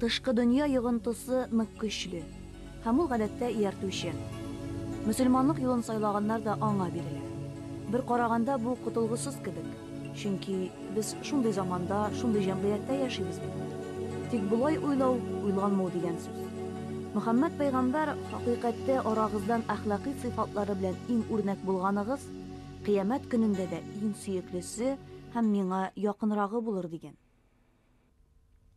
Тышкы дөнья йогынтысы нык көчле, һәм ул гадәттә ияртүчән. Мөселманлык юлын сайлаганнар да аңа бирелә. Бер караганда бу котылгысыз кебек, чөнки без шундый заманда, шундый җәмгыятьтә яшибез бит. Тик болай уйлау уйланмау дигән сүз. Мөхәммәд пәйгамбәр, Хакыйкатьтә арагыздан әхлакый сыйфатлары белән иң үрнәк булганыгыз, Кыямәт көнендә дә иң сөеклесе һәм миңа якынрагы булыр, дигән.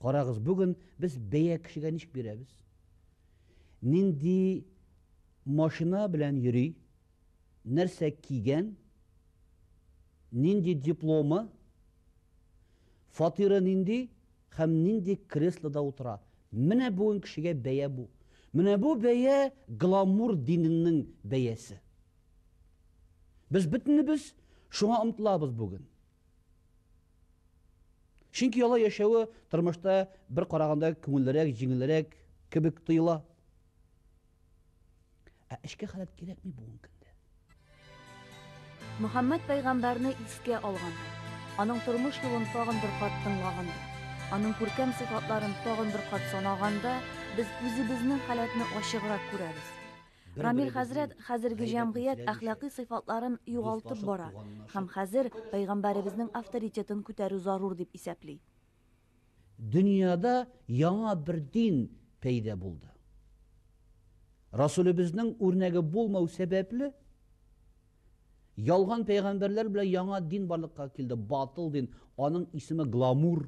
Карагыз, бүген без бәя кешегә ничек бирәбез? Нинди машина белән йөри, нәрсә кигән, нинди дипломы, фатиры нинди һәм нинди креслода утыра. Менә бүген кешегә бәя бу. Менә бу бәя гламур диненең бәясе. Без бөтенебез шуңа омтылабыз бүген. Чөнки алай яшәве тормышта бер караганда күңеллерәк, җиңелрәк кебек тоела. Ә эчке халәт кирәкми бүгенге көндә. Мөхәммәд пәйгамбәрне искә алган, аның тормыш юлын тагын бер кат тыңлаганда, аның күркәм сыйфатларын тагын бер кат санаганда, без үзебезнең халәтне ачыграк күрәбез. Рамил хәзрәт хәзерге җәмгыять әхлакый сыйфатларын югалтып бара һәм хәзер пәйгамбәребезнең авторитетын күтәрү зарур дип исәпли. Дөньяда яңа бер дин пәйда булды. Расулебезнең үрнәге булмау сәбәпле, ялган пәйгамбәрләр белән яңа дин барлыкка килде, батыл дин, аның исеме гламур.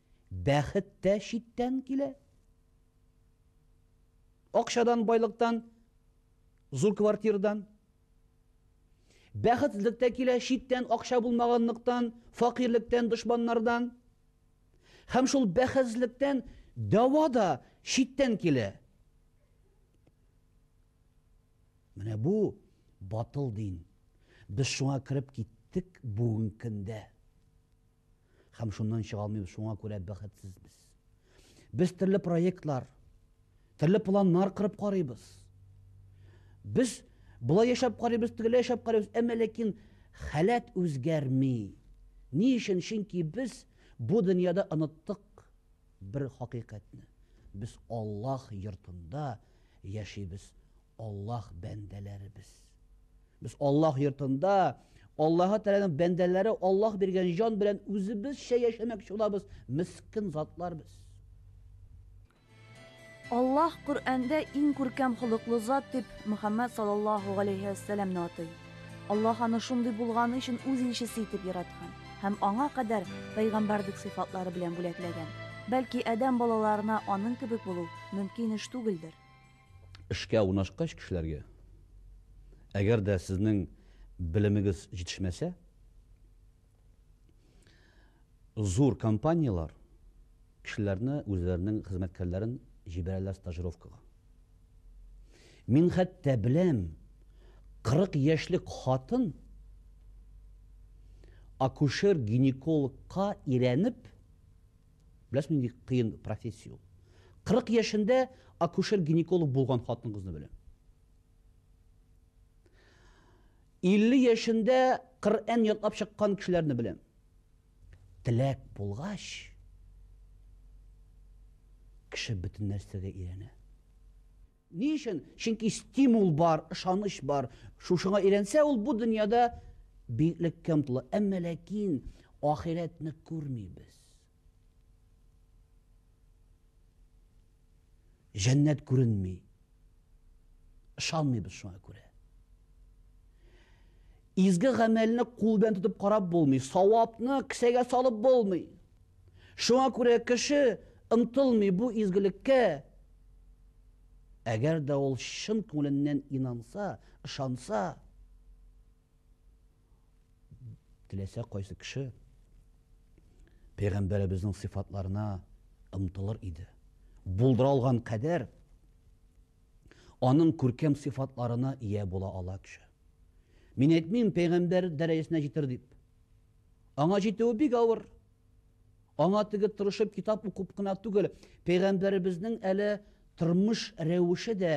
Бәхет тә читтән килә. Акчадан, байлыктан, зур квартирдан. Бәхетсезлек тә килә читтән, акча булмаганлыктан, факирлектән, дошманнардан. Һәм шул бәхетсезлектән дәва да читтән килә. Менә бу батыл дин. Без шуңа кереп киттек бүгенге көндә. Һәм шуннан чыга алмыйбыз, шуңа күрә бәхетсезбез. Без төрле проектлар, төрле планнар кырып карыйбыз. Без болай яшәп карыйбыз, тегеләй яшәп карыйбыз, әмма ләкин халәт үзгәрми. Ни өчен? Чөнки без бу дөньяда оныттык бер хакыйкатьне. Без Аллаһ йортында яшибез, Аллаһ бәндәләребез. Без Аллаһ йортында Аллаһы Тәгаләнең бәндәләре Аллаһ биргән җан белән үзебезчә яшәмәкче булабыз, мискин затлар без. Аллаһ Коръәндә иң күркәм холыклы зат дип Мөхәммәд саллаллаһу галәйһи вә сәләмне атый. Аллаһ аны шундый булганы өчен үз илчесе итеп яраткан һәм аңа кадәр пәйгамбәрлек сыйфатлары белән бүләкләгән. Бәлки Адәм балаларына аның кебек булу мөмкин эш түгелдер. Эшкә урнашкач кешеләргә, әгәр дә сезнең белемегез җитешмәсә, зур компанияләр кешеләрне үзләренең хезмәткәрләрен җибәрәләр стажировкага. Мин хәтта беләм, 40 яшьлек хатын акушер-гинекологка өйрәнеп, Беләсезме, нинди кыен профессия ул? 40 яшендә акушер-гинеколог булган хатын-кызны беләм. 50 яшендә Коръән ятлап чыккан кешеләрне беләм. Теләк булгач, кеше бөтен нәрсәгә өйрәнә. Ни өчен? Чөнки стимул бар, ышаныч бар. Шушыңа өйрәнсә, ул бу дөньяда биеклеккә омтыла. Әмма ләкин ахирәтне күрмибез. Җәннәт күренми. Ышанмыйбыз шуңа күрә. Изге гамәлне кул белән тотып карап булмый, савапны кесәгә салып булмый. Шуңа күрә кеше омтылмый бу изгелеккә, әгәр дә ул чын күңеленнән инанса, ышанса. Теләсә кайсы кеше Пәйгамбәребезнең сыйфатларына омтылыр иде. Булдыра алган кадәр аның күркәм сыйфатларына ия була ала кеше. Мин әйтмим, пәйгамбәр дәрәҗәсенә җитер дип. Аңа җитүе бик авыр. Аңа теге тырышып китап укып кына түгел, пәйгамбәребезнең әле тормыш рәвеше дә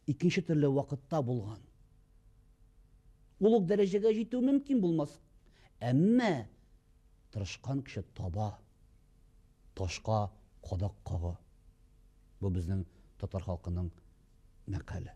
икенче төрле вакытта булган. Ул ук дәрәҗәгә җитү мөмкин булмас. Әмма тырышкан кеше таба, ташка кадак кага. Бу безнең татар халкының мәкале.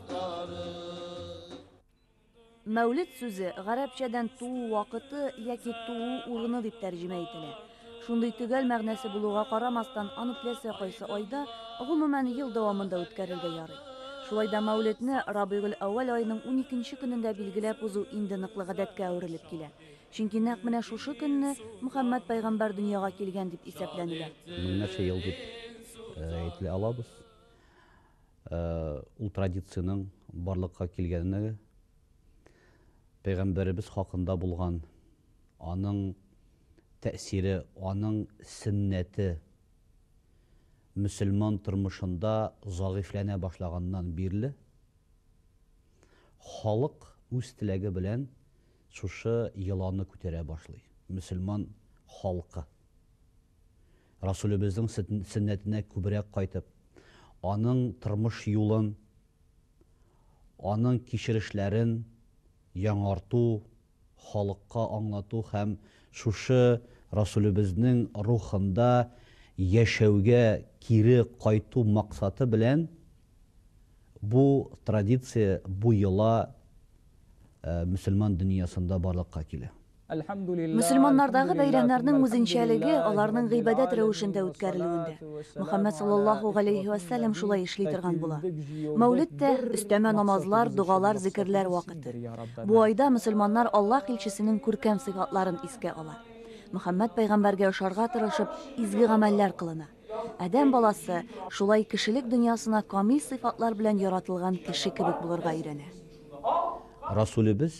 Мәүлет сүзе гарәпчәдән туу вакыты яки туу урыны дип тәрҗемә ителә. Шундый төгәл мәгънәсе булуга карамастан, аны теләсә кайсы айда, гомумән, ел дәвамында үткәрергә ярый. Шулай да Мәүлетне Рабигель-әүвәл аеның уникенче көнендә билгеләп узу инде ныклы гадәткә әверелеп килә. Чөнки нәкъ менә шушы көнне Мөхәммәд пәйгамбәр дөньяга килгән дип исәпләнелә. Меңнәрчә ел дип әйтли алабыз. Ул традициянең барлыкка килгәненә пәйгамбәребез хакында булган аның тәэсире, аның сөннәте мөселман тормышында загыйфьләнә башлаганнан бирле халык үз теләге белән шушы йоланы күтәрә башлый, мөселман халкы. Расүлебезнең сөннәтенә күбрәк кайтып, аның тормыш юлын, аның кичерешләрен яңарту, халыкка аңлату һәм шушы Расүлебезнең рухында яшәүгә кире кайту максаты белән Бу традиция бу йола мөселман дөньясында барлыкка килә. Мөселманнардагы бәйрәмнәрнең үзенчәлеге аларның гыйбадәт рәвешендә үткәрелүендә. Мөхәммәд салләллаһу галәйһи вә сәлләм шулай эшли торган була. Мәүлид тә, өстәмә намазлар, догалар, зикерләр вакыты. Бу айда мөселманнар Аллаһ илчесенең күркәм сыйфатларын искә ала. Мөхәммәд пәйгамбәргә ошарга тырышып, изге гамәлләр кылына. Адәм баласы шулай кешелек дөньясына камил сыйфатлар белән яратылган кеше кебек булырга өйрәнә. Расулебез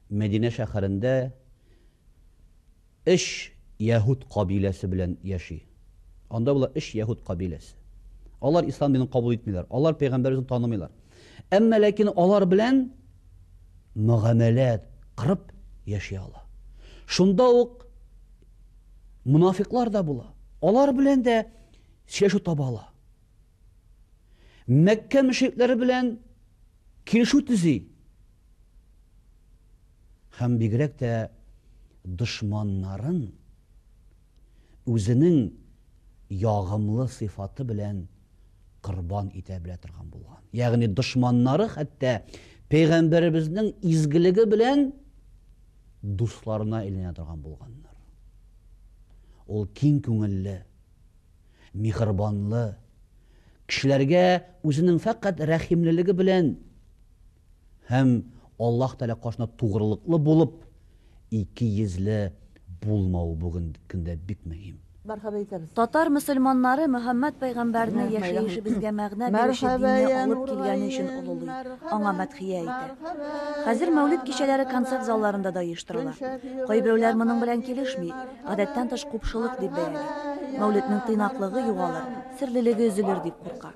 Мәдинә шәһәрендә өч яһүд кабиләсе белән яши. Анда болар өч яһүд кабиләсе. Алар ислам динен кабул итмиләр. Алар пәйгамбәребезне танымыйлар. Әмма ләкин алар белән мөгамәлә кырып яши ала. Шунда ук Мунафиклар да була. Алар белән дә сөйләшү таба ала. Мәккә мөшрикләре белән килешү төзи. Һәм бигрәк тә дошманнарын үзенең ягымлы сыйфаты белән корбан итә белә торган булган. Ягъни дошманнары хәтта пәйгамбәребезнең изгелеге белән дусларына әйләнә торган булганнар. Ул киң күңелле, михрибанлы, кешеләргә үзенең фәкать рәхимлелеге белән Һәм Аллаһ Тәгалә каршында тугрылыклы булып, ике йөзле булмау бүгенге көндә бик мөһим. Мәрхәбә итәбез. Татар мөселманнары Мөхәммәд пәйгамбәрнең яшәешебезгә мәгънә бирүче динне алып килгәне өчен олылый, аңа мәдхия әйтә. Хәзер Мәүлид кичәләре концерт залларында да оештырыла. Кайберәүләр моның белән килешми, гадәттән тыш купшылык дип бәяли. Мәүлиднең тыйнаклыгы югалыр, серлелеге өзелер дип курка.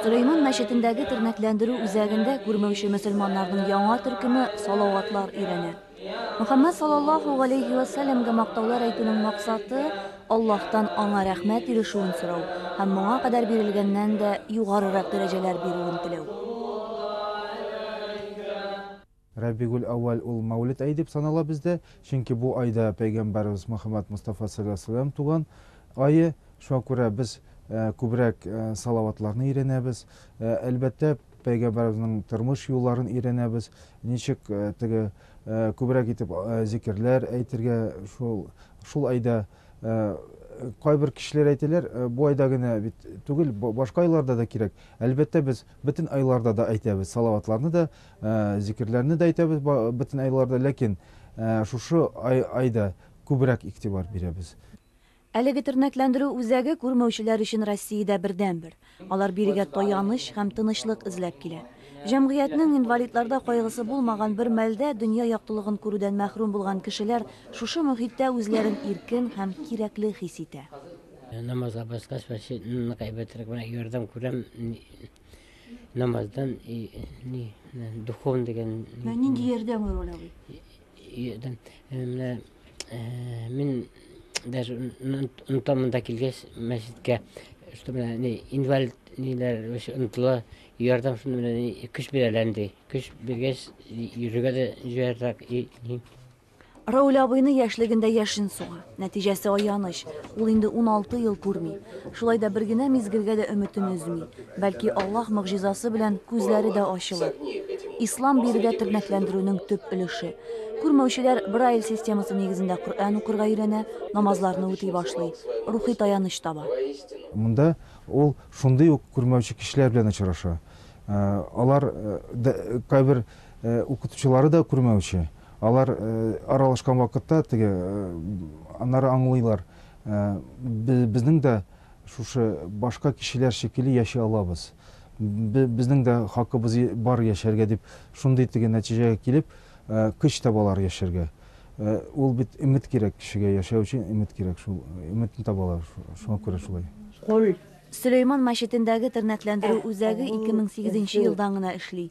Сөләйман мәчетендәге тернәкләндерү үзәгендә күрмәүче мөселманнарның яңа төркеме салаватлар өйрәнә. Мөхәммәд саллаллаһу галәйһи вә сәлләмгә мактаулар әйтүнең максаты, Аллаһтан аңа рәхмәт ирешүен сорау һәм моңа кадәр бирелгәннән дә югарырак дәрәҗәләр бирүен теләү. Рабигуль-әүвәл ул Мәүлид ае дип санала бездә, чөнки бу айда пәйгамбәребез Мөхәммәд Мостафа салләлләһү галәйһи ва сәлләм туган ае, шуңа күрә без күбрәк салаватларны өйрәнәбез, әлбәттә, пәйгамбәребезнең тормыш юлларын өйрәнәбез, ничек теге күбрәк итеп зикерләр әйтергә шул шул айда, кайбер кешеләр әйтәләр, бу айда генә бит түгел, башка айларда да кирәк, әлбәттә, без Бөтен айларда да әйтәбез, салаватларны да, зикерләрне дә әйтәбез бөтен айларда, ләкин шушы айда күбрәк игътибар бирәбез. Әлеге тернәкләндерү үзәге күрмәүчеләр өчен Россиядә бердәнбер. Алар бирегә таяныч һәм тынычлык эзләп килә. Җәмгыятьнең инвалидларда кайгысы булмаган бер мәлдә дөнья яктылыгын күрүдән мәхрүм булган кешеләр шушы мохиттә үзләрен иркен һәм кирәкле хис итә. Намазга баскач, мәчетне кайбәтрәк менә ярдәм күрәм. Намаздан ни духовный дигән. Менә нинди ярдәм ул ул? Ярдәм. Менә мин даже унтамында килгәч мәчеткә, что менә ни инвалид ниләр онтыла, ярдәм шуны менә көч бирәләр инде. Көч биргәч, йөрергә дә җыяррак. Равил абыйны яшьлегендә яшен суга. Нәтиҗәсе аяныч, ул инде уналты ел күрми. Шулай да бер генә мизгелгә дә өметен өзми. Бәлки, Аллаһ могҗизасы белән күзләре дә ачылыр. Ислам биредә тернәкләндерүнең төп өлеше. Күрмәүчеләр Брайль системасы нигезендә Коръән укырга өйрәнә, намазларны үти башлый, рухи таяныч таба. Монда ул шундый ук күрмәүче кешеләр белән очраша. Алар да, кайбер укытучылары да күрмәүче. Алар аралашкан вакытта теге, аннары аңлыйлар, безнең дә шушы башка кешеләр шикелле яши алабыз, безнең дә хакыбыз бар яшәргә дип, шундый теге нәтиҗәгә килеп, көч табалар яшәргә. Ул бит өмет кирәк кешегә, яшәү өчен өмет кирәк, шул өметне табалар, шуңа күрә шулай. Сөләйман мәчетендәге тернәкләндерү үзәге ике мең сигезенче елдан гына эшли.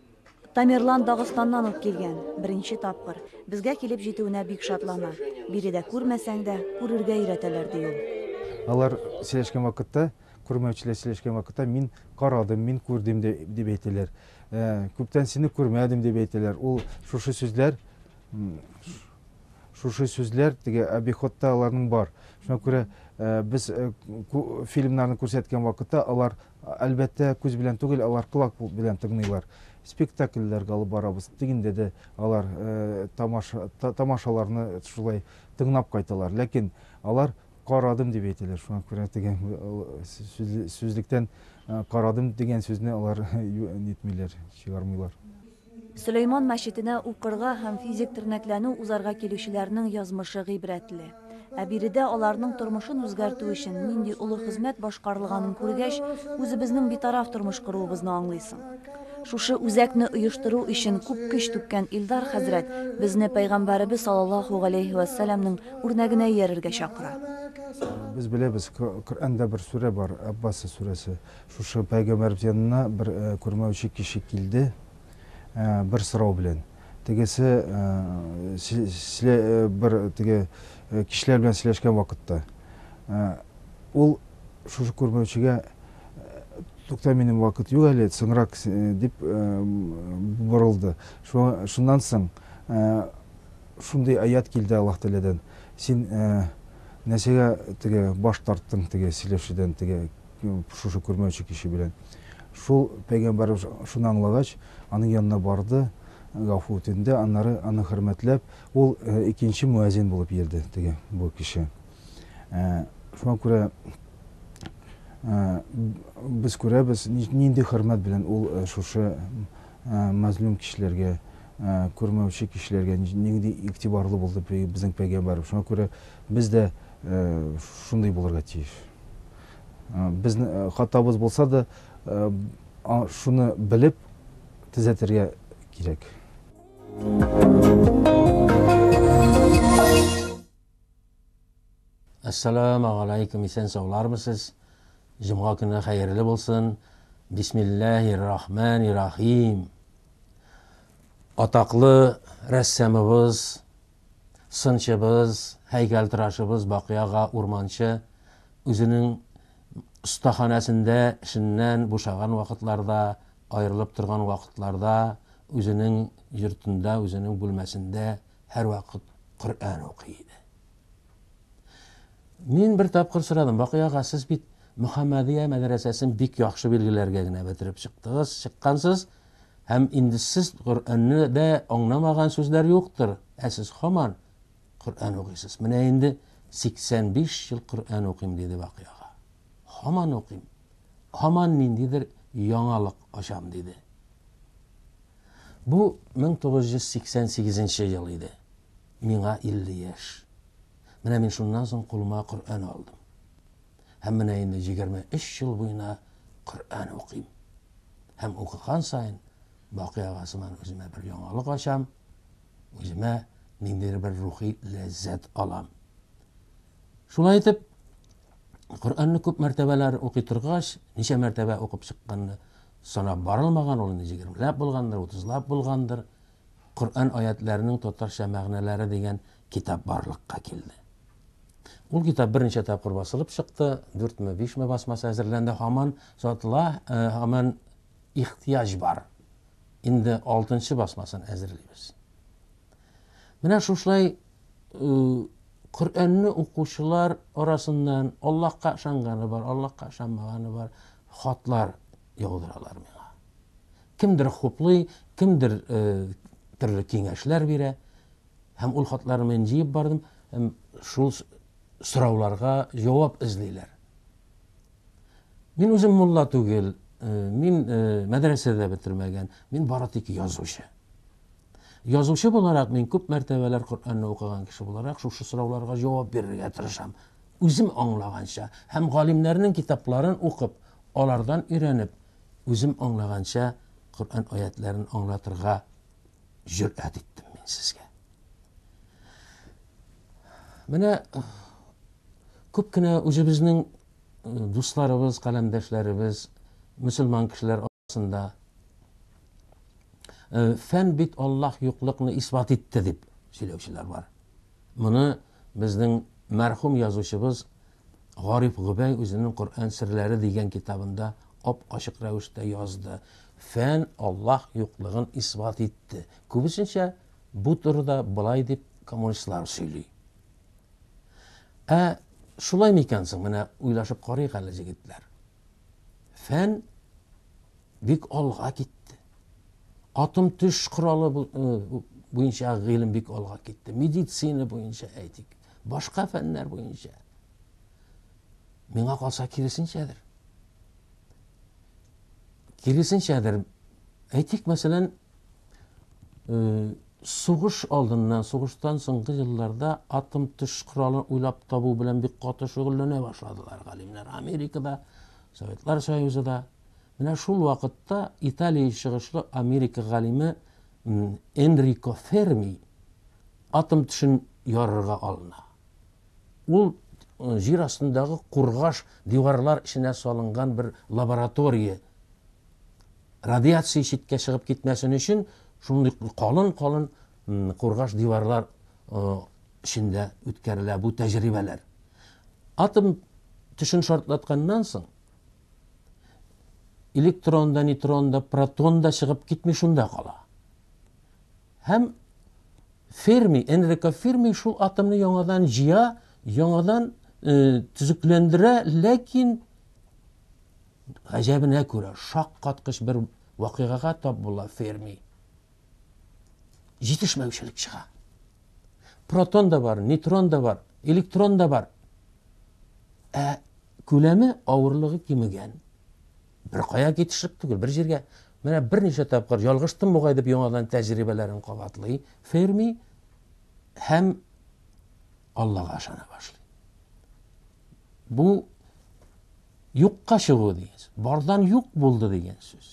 Тамерлан Дагыстаннан ук килгән, беренче тапкыр. Безгә килеп җитүенә бик шатлана. Биредә күрмәсәң дә, күрергә өйрәтәләр, ди ул. Алар сөйләшкән вакытта, күрмәүчеләр сөйләшкән вакытта, мин карадым, мин күрдем, дип әйтәләр. Күптән сине күрмәдем, дип әйтәләр. Ул шушы сүзләр, шушы сүзләр теге обиходта аларның бар. Шуңа күрә без фильмнарны күрсәткән вакытта, алар Әлбәттә, күз белән түгел, алар колак белән тыңлыйлар. Спектакльләр алып барабыз. Дигәндә дә алар тамаша тамашаларны шулай тыңлап кайталар. Ләкин алар карадым дип әйтәләр. Шуңа күрә дигән сүзлектән карадым дигән сүзне алар нитмиләр, чыгармыйлар. Сөләйман мәчетенә укырга һәм физик тернәкләнү узарга килүчеләрнең язмышы гыйбрәтле. Ә биредә аларның тормышын үзгәртү өчен нинди олы хезмәт башкарылганын күргәч, үзебезнең битараф тормыш коруыбызны аңлыйсың. Шушы үзәкне оештыру өчен күп көч түккән Илдар хәзрәт безне Пәйгамбәребез салаллаһу галәйһи вә сәләмнең үрнәгенә иярергә чакыра. Без беләбез, Коръәндә бер сүрә бар, Әббаса сүрәсе. Шушы Пәйгамбәр бит янына бер күрмәүче кеше килде бер сорау белән. Тегесе бер теге кешеләр белән сөйләшкән вакытта, ул шушы күрмәүчегә, Тукта, минем вакыт юк әле, соңрак, дип борылды. Шуннан соң шундый аять килде Аллаһ Тәгаләдән, Син нәрсәгә теге баш тарттың теге сөйләшүдән, теге Шушы күрмәүче кеше белән. Шул пәйгамбәрбез шуны аңлагач, аның янына барды, гафу үтенде, аннары аны хөрмәтләп, ул э, икенче муәзин булып йөрде, теге бу кеше. Э, шуңа күрә э, без күрәбез, нинди хөрмәт белән ул шушы мәзлум кешеләргә күрмәүче кешеләргә нинди игътибарлы булды безнең пәйгамбәрбез. Шуңа күрә без дә шундый булырга тиеш. Безнең хатабыз булса да, шуны белеп төзәтергә кирәк. Ассаламу алейкум, исән саулармысыз? Җомга көне хәерле булсын. Бисмиллахир рахманир рахим. Атаклы рәссамыбыз сынчыбыз, һәйкәлтырашыбыз Бакый ага Урманче үзенең остаханәсендә эшеннән бушаган вакытларда, аерылып торган вакытларда үзенең йортында, үзенең бүлмәсендә һәрвакыт Коръән укый иде. Мин бер тапкыр сорадым, Бакый ага, сез бит Мөхәммәдия мәдрәсәсен бик яхшы билгеләргә генә бетереп чыктыгыз, чыккансыз, Һәм инде сез Коръәнне дә аңламаган сүзләр юктыр, ә сез һаман Коръән укыйсыз. Менә инде 85 ел Коръән укыйм, диде Бакый ага. Һаман укыйм. Һаман ниндидер яңалык ачам, диде. Бу 1988 ел иде. Миңа 50 яшь. Менә мин шуннан соң кулыма Коръән алдым. Һәм менә инде 23 ел буена Коръән укыйм. Һәм укыган саен бакый ага сыман үземә бер яңалык ачам, үземә ниндидер бер рухи ләззәт алам. Шулай итеп, Коръәнне күп мәртәбәләр укый торгач, ничә мәртәбә укып чыкканны санап барылмаган, ул инде 20 ләп булгандыр, 30 ләп булгандыр. Коръән аятләренең татарча мәгънәләре дигән китап барлыкка килде. Ул китап берничә тапкыр басылып чыкты, дүртме, бишме басмасы әзерләнде, һаман сатыла, э, һаман ихтыяҗ бар. Инде алтынчы басмасын әзерлибез. Менә шушылай э, Коръәнне укучылар арасыннан Аллаһка ышанганы бар, Аллаһка ышанмаганы бар хатлар яудыралар миңа. Кемдер хуплый, кемдер э, төрле киңәшләр бирә. Һәм ул хатларны мин җыеп бардым, һәм шул сорауларга җавап эзлиләр. Мин үзем мулла түгел, э, мин э, мәдрәсә дә бетермәгән, мин бары тик язучы. Язучы буларак мин күп мәртәбәләр Коръәнне укыган кеше буларак шушы сорауларга җавап бирергә тырышам. Үзем аңлаганча һәм галимнәрнең китапларын укып, алардан өйрәнеп, үзем аңлаганча Коръән аятларын аңлатырга җөрьәт иттем мин сезгә. Менә күп кенә үзебезнең дусларыбыз, каләмдәшләребез, мөселман кешеләр арасында фән бит Аллаһ юклыкны исбат итте дип сөйләүчеләр бар. Моны безнең мәрхүм язучыбыз Гариф Гобәй үзенең Коръән серләре дигән китабында ап-ачык рәвештә язды. Фән Аллаһ юклыгын исбат итте. Күбесенчә бу турыда болай дип коммунистлар сөйли. Ә шулай микән соң? Менә уйлашып карыйк әле, җегетләр. Фән бик алга китте. Атом төш коралы буенча гыйлем бик алга китте. Медицина буенча әйтик. Башка фәннәр буенча. Миңа калса киресенчәдер. Киресенчәдер. Әйтик, мәсәлән, э, сугыш алдыннан, сугыштан соңгы елларда атом төш коралын уйлап табу белән бик каты шөгыльләнә башладылар галимнәр. Америкада, Советлар Союзы да. Менә шул вакытта Италия чыгышлы Америка галиме Энрико Ферми Атом тешен ярырга алына. Ул җир астындагы кургаш диварлар эченә салынган бер лаборатория. Радиация читкә чыгып китмәсен өчен, шундый калын-калын кургаш диварлар эчендә үткәрелә бу тәҗрибәләр. Атом тешен шартлатканнан соң, электрон да, нейтрон да, протон да чыгып китми, шунда кала. Һәм Ферми, Энрико Ферми шул атомны яңадан җыя, яңадан төзекләндерә, ләкин гаҗәбенә күрә шаккаткыч бер вакыйгага тап була Ферми. Җитешмәүчелек чыга. Протон да бар, нейтрон да бар, электрон да бар. Ә күләме, авырлыгы кимегән. Беркая китешеп түгел, бер җиргә. Менә берничә тапкыр ялгыштым бугай дип яңадан тәҗрибәләрен кабатлый Ферми һәм Аллага ышана башлый. Бу юкка чыгу дигән сүз. Бардан юк булды дигән сүз.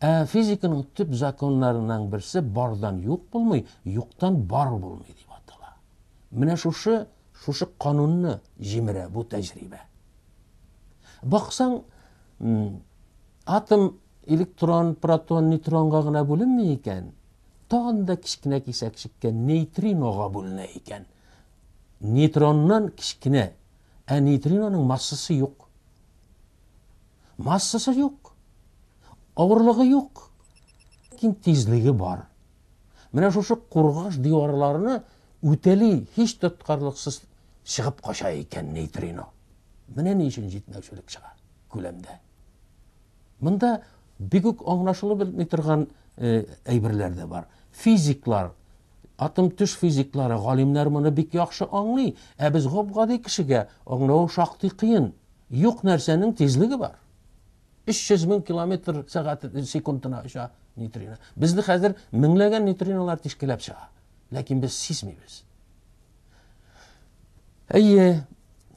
Ә физиканың төп законнарының берсе бардан юк булмый, юктан бар булмый дип атала. Менә шушы шушы канунны җимерә бу тәҗрибә. Баксаң, атом электрон, протон, нейтронга гына бүленми икән, тагын да кечкенә кисәкчеккә нейтринога бүленә икән. Нейтроннан кечкенә, ә нейтриноның массасы юк. Массасы юк. Авырлыгы юк. Ләкин тизлеге бар. Менә шушы кургаш диварларны үтәли һич тоткарлыксыз чыгып кача икән нейтрино. Менә ни өчен җитмәүчелек чыга күләмдә. Монда бик үк аңлашылып бетми торган э, әйберләр дә бар. Физиклар атом төш физиклары галимнәр моны бик яхшы аңлый ә без гоп гади кешегә аңлау шактый кыен юк нәрсәнең тизлеге бар 300 мең километр сәгать секундына оча нейтрино. Безне хәзер меңләгән нейтриналар тишкеләп чыга. Ләкин без сизмибез. Әйе,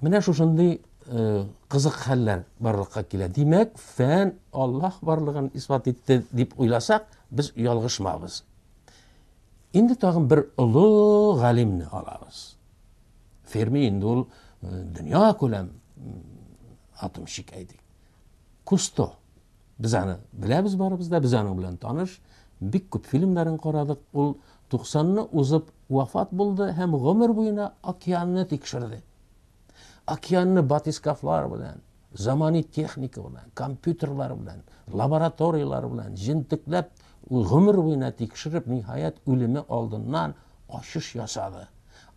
менә шушындый э, кызык хәлләр барлыкка килә. Димәк, фән Аллаһ барлыгын исбат итте дип уйласак, без ялгышмабыз. Инде тагын бер олы галимне алабыз. Ферми инде ул э, дөнья күләм атомщик әйтик. Кусто. Без аны беләбез барыбыз да, без аның белән таныш, бик күп фильмнарын карадык. Ул 90 ны узып вафат булды һәм гомер буена океанны тикшерде. Океанны батискафлар белән, замани техника белән, компьютерлар белән, лабораторияләр белән җентекләп, гомер буена тикшереп, ниһаять, үлеме алдыннан ачыш ясады.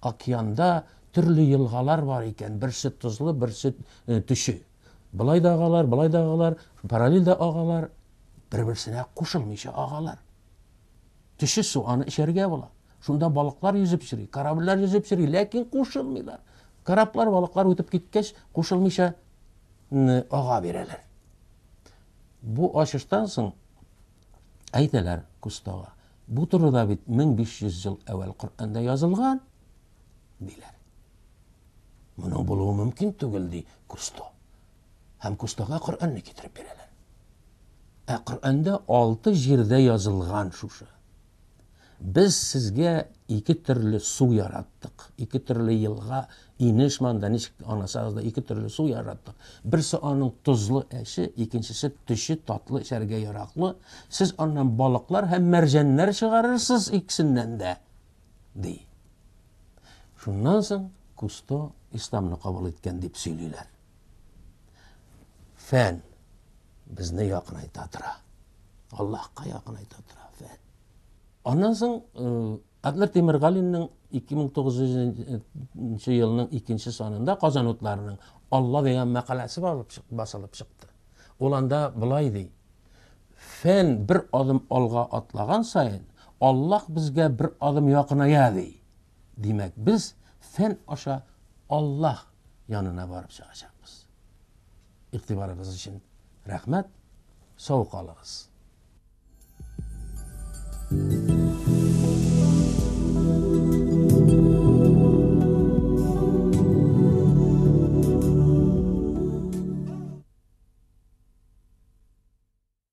Океанда төрле елгалар бар икән, берсе тозлы, берсе төче. Болай да агалар, болай да агалар, параллель дә агалар, бер-берсенә кушылмыйча агалар. Төче су аны эчәргә була. Шунда балыклар йөзеп йөри, корабльләр йөзеп йөри, ләкин кушылмыйлар. Кораблар, балыклар үтеп киткәч, кушылмыйча ага бирәләр. Бу ачыштан соң әйтәләр Кустога. Бу турыда бит 1500 ел әвәл Коръәндә язылган. диләр. Моның булуы мөмкин түгел, ди Кусто. Һәм Кустога Коръәнне китереп бирәләр. Ә Коръәндә алты җирдә язылган шушы. Без сезгә ике төрле су яраттык. Ике төрле елга, инеш манда ничек анасагыз да ике төрле су яраттык. Берсе аның тозлы әче, икенчесе төче татлы эчәргә яраклы. Сез аннан балыклар һәм мәрҗәннәр чыгарырсыз икесеннән дә, ди. Шуннан соң Кусто исламны кабул иткән дип сөйлиләр. Фән безне якынайта тора. Аллаһка якынайта тора фән. Аннан соң э, Адлер Тимиргалинның 2900 елның 2 санында Казан утларының Алла дигән мәкаләсе басылып чыкты. Ул анда былай ди. Фән бер адым алга атлаган саен, Аллаһ безгә бер адым якыная, ди. Димәк, без фән аша Аллаһ янына барып чыгачакбыз. Игътибарыгыз өчен рәхмәт, сау калыгыз!